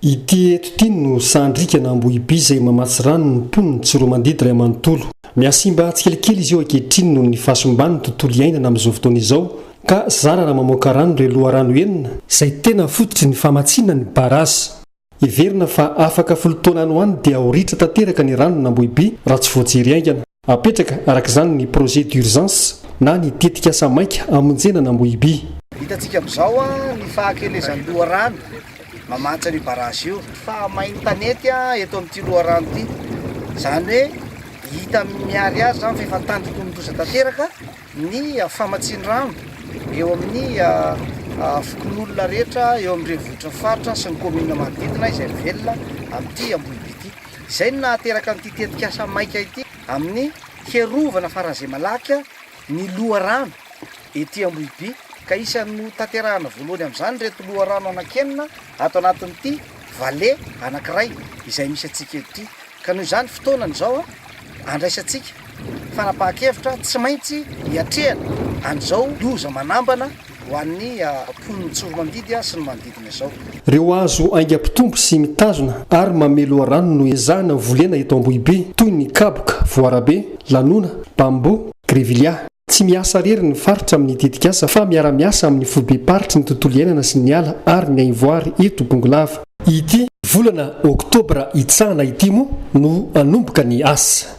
Ity eto ity no sandrika na ambohiby izay mamatsy rano ny mponin'i Tsiroamandidy iray manontolo. Mihasimba tsikelikely izy io ankehitriny noho ny fahasimban'ny tontolo iainana amin'izao fotoana izao ka zara raha mamoaka rano ireo loharano enina izay tena fototry ny famatsiana ny barazy. Heverina fa afaka folo taona any ho any dia ho ritra tanteraka ny ranon'Ambohiby raha tsy voajery haingana. Apetraka araka izany ny projet d'urgence na ny tetikasa maika hamonjena an'Ambohiby. Hitantsika amin'izao ny fahakelezan'ny loharano mamantsy an'io barrage io. Fahamain'ny tanety eto amin'ity loharano ity. Izany hoe hita miharihary izany fa efa an-tandindomin-doza tanteraka ny famatsian-drano eo amin'ny fokonolona rehetra eo amin'ny renivohitr'ny faritra sy ny kaominina manodidina izay mivelona amin'ity Ambohiby ity. Izay no nahateraka an'ity tetikasa maika ity amin'ny hiarovana faran'izay malaky ny loharano ety Ambohiby ka isan'ny notanterahana voalohany amin'izany ireto loharano anankenina ato anatin'ity vale anankiray izay misy antsika eto ity ka noho izany fotoanany izao andraisantsika fanapahan-kevitra tsy maintsy hiatrehana an'izao loza manambana Ho an'ny mponin'i Tsoromandidy sy ny manodidina izao. Ireo hazo haingam-pitombo sy mitazona ary mamehy loharano no ezahina volena eto Ambohibe, toy ny kaboka, voarabe, lanona, bamboo, grevillea. Tsy miasa irery ny faritra amin'ny tetikasa fa miara-miasa amin'ny foibem-paritry ny tontolo iainana sy ny ala ary ny haivoary eto Bongolava. Ity volana oktobra hitsahana ity moa no hanomboka ny asa.